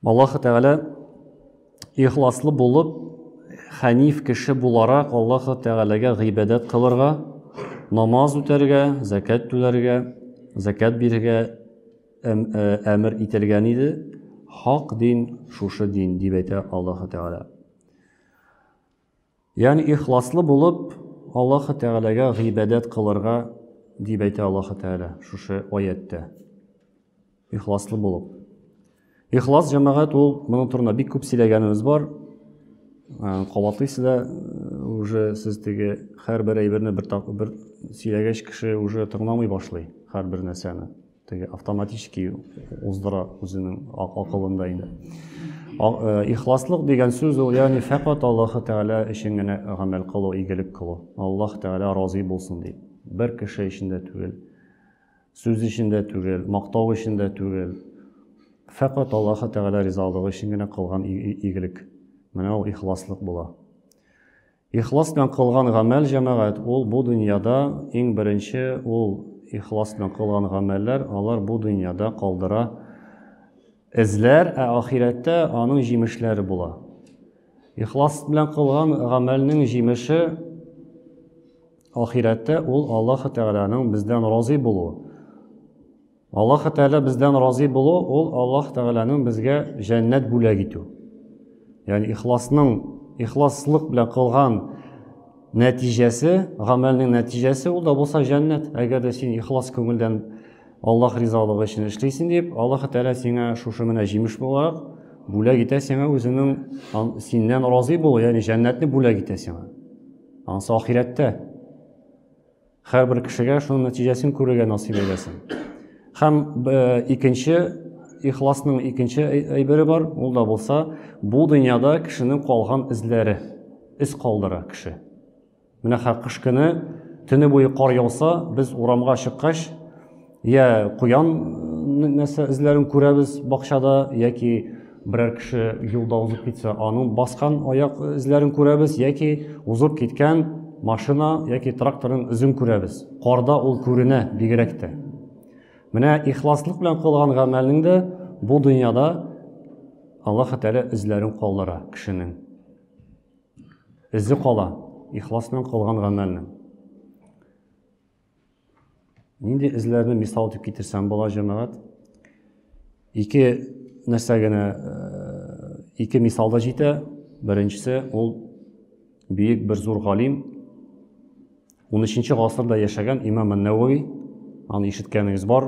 Аллаһ Тәгалә ихласлы булып, хәниф кеше буларак Аллаһ Тәгаләгә гыйбадәт кылырга, намаз үтәргә, закат түләргә, закат бирергә әмер э, ителгән иде. Хак дин шушы дин дип әйтә Аллаһ Тәгалә. Ягъни ихласлы булып, Аллаһы Тәгаләгә гыйбадәт кылырга дип әйтә Аллаһы Тәгалә шушы аятьтә. Ихласлы булып. Ихлас җәмәгать ул моның турында бик күп сөйләгәнебез бар. Кабатлыйсы да уже сез теге һәрбер әйберне бер бер сөйләгәч кеше уже тыңламый башлый һәрбер нәрсәне. теге автоматически уздыра үзенең акылында инде э, ихласлык дигән сүз ул ягъни фәкать аллаһы тәгалә өчен генә гамәл кылу игелек кылу аллаһ тәгалә разый булсын дип бер кеше өчен дә түгел сүз өчен дә түгел мактау өчен дә түгел фәкать аллаһы тәгалә ризалыгы өчен генә кылган игелек менә ул ихласлык була Ихлас белән кылган гамәл, җәмәгать, ул бу дөньяда, иң беренче ул ихлас белән кылган гамәлләр, алар бу дөньяда калдыра эзләр, ә ахирәттә аның җимешләре була. Ихлас белән кылган гамәлнең җимеше ахирәттә ул Аллаһ Тәгаләнең бездән разый булуы. Аллаһ Тәгалә бездән разый булу ул Аллаһ Тәгаләнең безгә җәннәт бүләк итү. Ягъни ихласның ихласлык белән кылган нәтиҗәсе, гамәлнең нәтиҗәсе ул да булса җәннәт. Әгәр дә син ихлас күңелдән Аллаһ ризалыгы өчен эшлисең дип, Аллаһ Тәгалә сиңа шушы менә җимеш буларак бүләк итә сиңа үзенең синнән разый булу, ягъни җәннәтне бүләк итә сиңа. Ансы ахирәттә. Һәрбер кешегә шуның нәтиҗәсен күрергә насыйп әйләсен. Һәм э, икенче ихласның икенче әйбере бар, ул да булса, бу дөньяда кешенең калган эзләре, эз калдыра кеше. Менә кыш көне төне буе кар яуса, без урамга чыккач, Йә куян нәрсә эзләрен күрәбез бакчада, яки берәр кеше юлда узып китсә, аның баскан аяк эзләрен күрәбез, яки узып киткән машина яки тракторның эзен күрәбез. Карда ул күренә бигрәк тә. Менә ихласлык белән кылган гамәлнең дә бу дөньяда Аллаһ Тәгалә эзләрен калдыра кешенең. Эзе кала ихлас белән кылган гамәлнең. Нинди эзләрне мисал итеп китерсәм була, җәмәгать? Ике нәрсә генә э, ике мисал да җитә. Беренчесе ул бөек бер зур галим 13 гасырда яшәгән имам Нәвави, аны ишеткәнегез бар.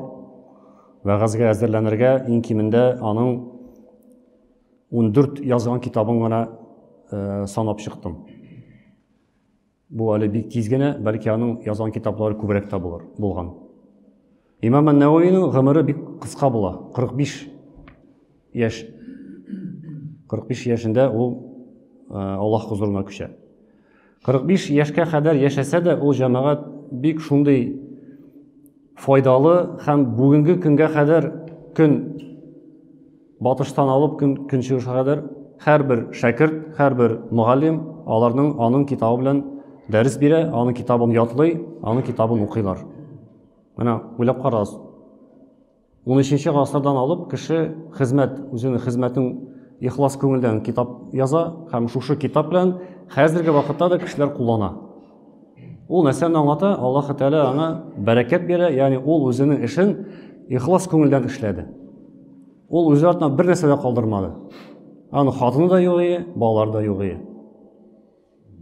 Вәгазьгә әзерләнергә иң кимендә аның 14 язган китабын гына э, санап чыктым. Бу әле бик тиз генә, бәлки аның язган китаплары күбрәк тә булыр, булган. Имам Ан-Наваиның гомере бик кыска була, 45 яшь. 45 яшендә ул Аллаһ хузурына күчә. 45 яшькә кадәр яшәсә дә, ул җәмәгать бик шундый файдалы һәм бүгенге көнгә кадәр көн батыштан алып көн көнчыгышка кадәр һәрбер шәкерт, һәрбер мөгаллим аларның аның китабы белән дәрес бирә, аның китабын ятлый, аның китабын укыйлар. Менә уйлап карагыз. 13 гасырдан алып кеше хезмәт, үзенең хезмәтен ихлас күңелдән китап яза һәм шушы китап белән хәзерге вакытта да кешеләр куллана. Ул нәрсәне аңлата, Аллаһ Тәгалә аңа бәрәкәт бирә, ягъни ул үзенең эшен ихлас күңелдән эшләде. Ул үзе артыннан бер нәрсә дә калдырмады. Аны хатыны да юк иде, балалары да юк иде.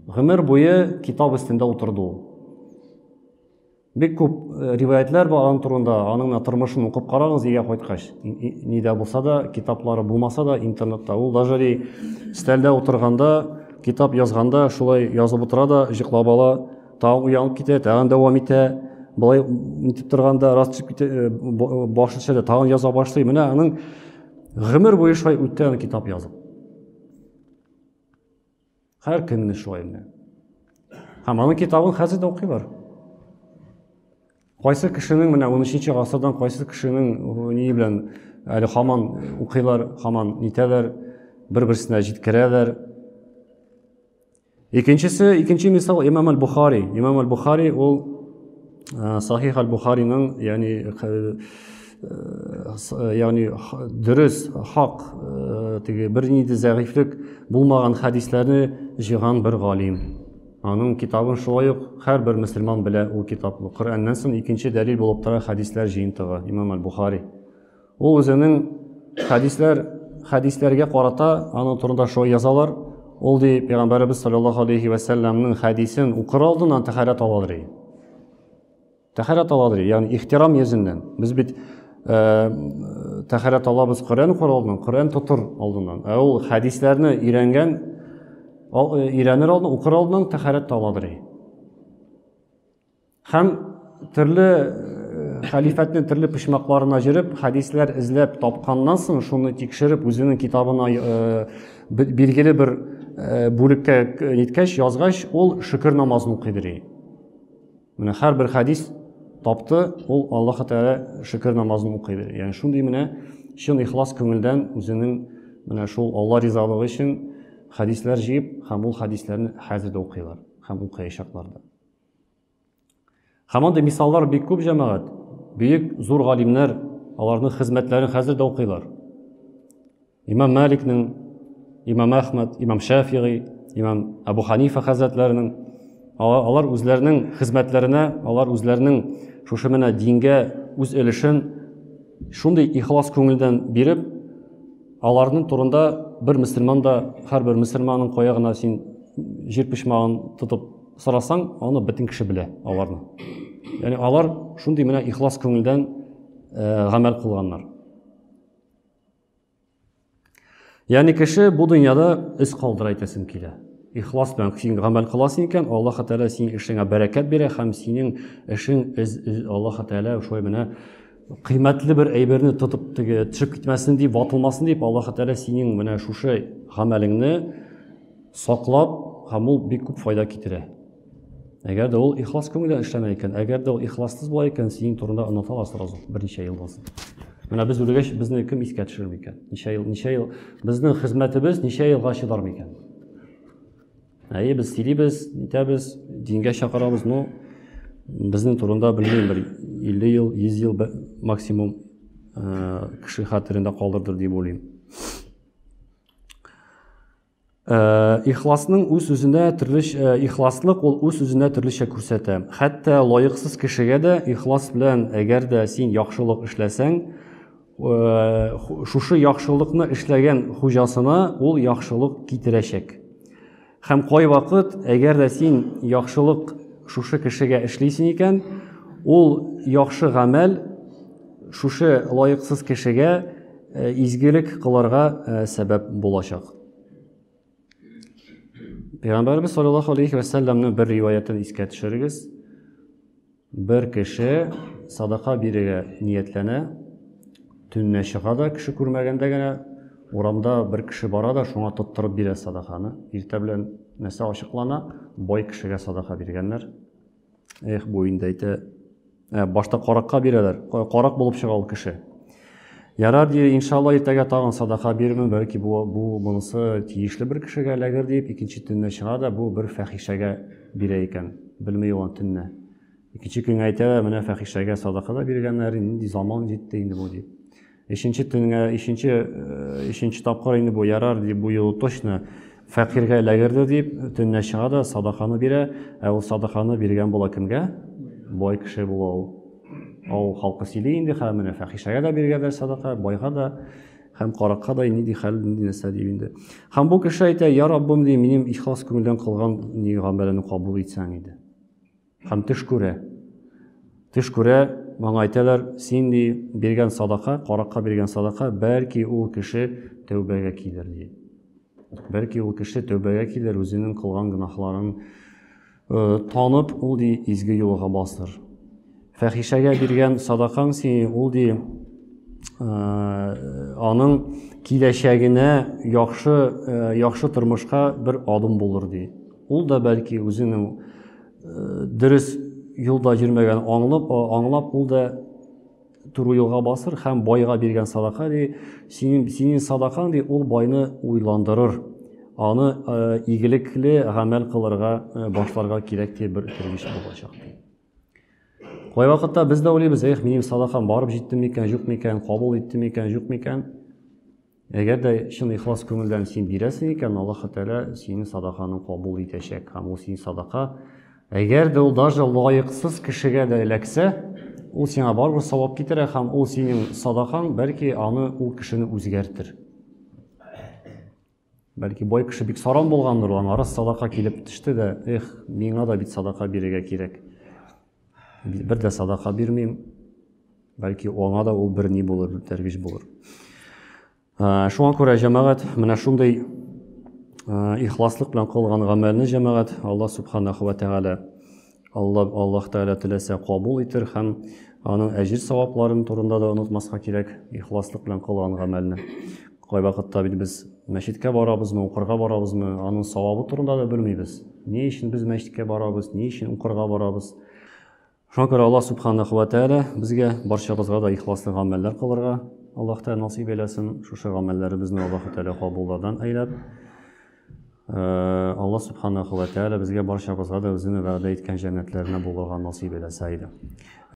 Гомер буе китап өстендә утырды ул. Бик күп э, риваятләр бар аның турында, аның менә тормышын укып карагыз өйгә кайткач. Нидә булса да, китаплары булмаса да, интернетта. Ул даже ли стәлдә утырганда, китап язганда шулай язып утыра да, җыклап ала, тагын уянып китә, тагын дәвам итә. Былай нитеп торганда раз төшеп китә, э, э, башы төшә тагын яза башлый. Менә аның гомер буе шулай үткән китап язып. Һәр көнне шулай менә. Һәм аның китабын хәзер дә укыйлар. Кайсы кешенең менә 13-нче гасырдан кайсы кешенең ни белән әле хаман укыйлар, хаман нитәләр, бер-берсенә җиткерәләр. Икенчесе, икенче мисал Имам аль-Бухари. Имам аль-Бухари ул Э, сахих аль бухариның ягъни э, э, ягъни дөрес хак теге бернинди зәгыйфлек булмаган хәдисләрне җыйган бер галим аның китабын шулай ук һәрбер мөселман белә ул китап коръәннән соң икенче дәлил булып тора хәдисләр җыентыгы имам аль бухари Ул үзенең хәдисләр хәдисләргә карата аның турында шулай язалар. Ул ди пәйгамбәребез саллаллаху алейхи ва салламның хәдисен укыр алдыннан тәһарәт алалар. Тәһарәт алалар, ягъни ихтирам йөзеннән. Без бит э, тәһарәт алабыз Коръән укыр алдыннан, Коръән тотыр алдыннан. Ә ул хәдисләрне өйрәнгән э, өйрәнер алдыннан, укыр алдыннан тәһарәт алалар. Һәм төрле хәлифәтне төрле почмакларына җөреп, хәдисләр эзләп тапканнан соң, шуны тикшереп, үзенең китабына э, билгеле бер э, бүлеккә э, ниткәч, язгач, ул шөкер намазын укый дери. Менә һәрбер хәдис тапты, ул Аллаһ Тәгалә шөкер намазын укый дери. Ягъни шундый менә чын ихлас күңелдән үзенең менә шул Алла ризалыгы өчен хәдисләр җыеп һәм ул хәдисләрне хәзер дә укыйлар һәм укыячаклар да. Һәм андый мисаллар бик күп җәмәгать. Бөек зур галимнәр аларның хезмәтләрен хәзер дә укыйлар. Имам Маликның, Имам Әхмәд, Имам Шафигый, Имам Абу Ханифа хәзрәтләренең алар үзләренең хезмәтләренә, алар үзләренең шушы менә дингә үз өлешен шундый ихлас күңелдән биреп, аларның турында бер мөселман да, һәрбер мөселманның кая гына син җир почмагын тотып Сорасаң, аны бөтен кеше белә, аларны. Яни алар шундый менә ихлас күңелдән э, гамәл кылганнар. Яни кеше бу дөньяда эз калдыра әйтәсем килә. Ихлас белән син гамәл кыласың икән, Аллаһ Тәгалә синең эшеңә бәрәкәт бирә һәм синең эшең Аллаһ Тәгалә шулай менә кыйммәтле бер әйберне тотып теге төшеп китмәсен дип ватылмасын дип аллаһы тәғәлә синең менә шушы гамәлеңне саклап һәм ул бик күп файда китерә әгәр дә ул ихлас күңелдән эшләмәй икән әгәр дә ул ихлассыз була икән синең турында оныта ала сразу берничә елдан соң менә без үлгәч безне кем искә төшерер микән ничә ел ничә ел безнең хезмәтебез ничә елга чыдар микән Әйе, без сөйлибез, әйтәбез, дингә чакырабыз, но безнең турында белмим бер 50 ел, 100 ел максимум э, кеше хәтерендә калдырдыр дип уйлыйм. Э, ихласның үз үзенә төрлечә э, ихласлык ул үз үзенә төрлечә күрсәтә. Хәтта лаексыз кешегә дә ихлас белән, әгәр дә син яхшылык эшләсәң, шушы яхшылыкны эшләгән хуҗасына ул яхшылык китерәчәк. Һәм кайвакыт, әгәр дә син яхшылык шушы кешегә эшлисең икән, ул яхшы гамәл шушы лаексыз кешегә э, изгелек кылырга э, сәбәп булачак. Пәйгамбәрбез саллаллаһу алейхи ва саллямның бер риваятен искә төшерегез. Бер кеше садака бирергә ниятләнә, төнлә чыга да, кеше күрмәгәндә генә урамда бер кеше бара да, шуңа тоттырып бирә садаканы. Иртә белән нәрсә ачыклана, бай кешегә садака биргәннәр. Эх, бу инде әйтә, ә, башта каракка бирәләр, карак булып чыга ул кеше. Ярар, ди, иншалла иртәгә тагын садака бирермен, бәлки бу, бу монысы тиешле бер кешегә эләгер дип, икенче төнне чыга да бу бер фәхишәгә бирә икән, белми ул аны төнне. Икенче көнгә әйтә, менә фәхишәгә садака да биргәннәр, нинди заман җитте инде бу дип. Ишенче төнгә, ишенче, э, ишенче тапкыр инде бу ярар дип, бу юлы точно фәкыйрьгә эләгерде дип, төнлә чыга да садаканы бирә, ә ул садаканы биргән була кемгә? Бай кеше була ул. Авыл халкы сөйли инде, хәзер менә фәхишәгә дә биргәдә садака, байга да һәм каракка да нинди хәл, нинди нәрсә дип инде. Һәм бу кеше әйтә, я Раббым, ди, минем ихлас күңелдән кылган ни гамәлемне кабул итсәң иде. Һәм төш күрә. Төш күрә, моңа әйтәләр, син ди, биргән садака, каракка биргән садака, бәлки ул кеше тәүбәгә килер ди. Бәлки ул кеше тәүбәгә килер, үзенең кылган гөнаһларын Танып ул ди изге юлга бастыр. Фәхишәгә биргән садакаң сине ул ди аның киләчәгенә яхшы яхшы тормышка бер адым булыр ди. Ул да бәлки үзенең дөрес юлда йөрмәгән аңлап аңлап ул да Туруйылга басыр һәм байга биргән садака ди, синең, синең садакаң ди, ул байны уйландырыр. Аны э, игелекле гамәл кылырга э, башларга кирәк ди бер киргеш булачак ди. Кай вакытта без дә уйлыйбыз, эх, минем садакам барып җитте микән, юк микән, кабул итте микән, юк микән? Әгәр дә чын ихлас күңелдән син бирәсең икән, Аллаһы Тәгалә синең садаканы кабул итәчәк. Һәм ул синең садака, әгәр дә ул даже лаексыз кешегә дә эләксә, ул сиңа барыбер савап китерә һәм ул синең садакаң, бәлки аны ул кешене үзгәртер. Бәлки бай кеше бик саран булгандыр, аңа раз садака килеп төште дә, эх, миңа да бит садака бирергә кирәк. бер дә садака бирмим. Бәлки аңа да ул бер ни булыр, бер тәрбиш булыр. Шуңа күрә җәмәгать менә шундый ихласлык белән кылган гамәлне җәмәгать Алла субханаху ва тәгалә Алла Аллаһ тәгалә теләсә кабул итер һәм аның әҗир савапларын турында да онытмаска кирәк, ихласлык белән кылган гамәлне. Кайвакытта бит без мәчеткә барабызмы, укырга барабызмы, аның савабы турында да белмибез. Ни өчен без мәчеткә барабыз, ни өчен укырга барабыз? Шуңа күрә Аллаһ Субханаху ва Тәгалә безгә барчабызга да ихласлы гамәлләр кылырга Аллаһ Тәгалә насыйп әйләсен. Шушы гамәлләребезне Аллаһ Тәгалә кабуллардан әйләп, Аллаһ Субханаху ва Тәгалә безгә барчабызга да үзенең вәгъдә иткән җәннәтләренә булырга насыйп әйләсә иде.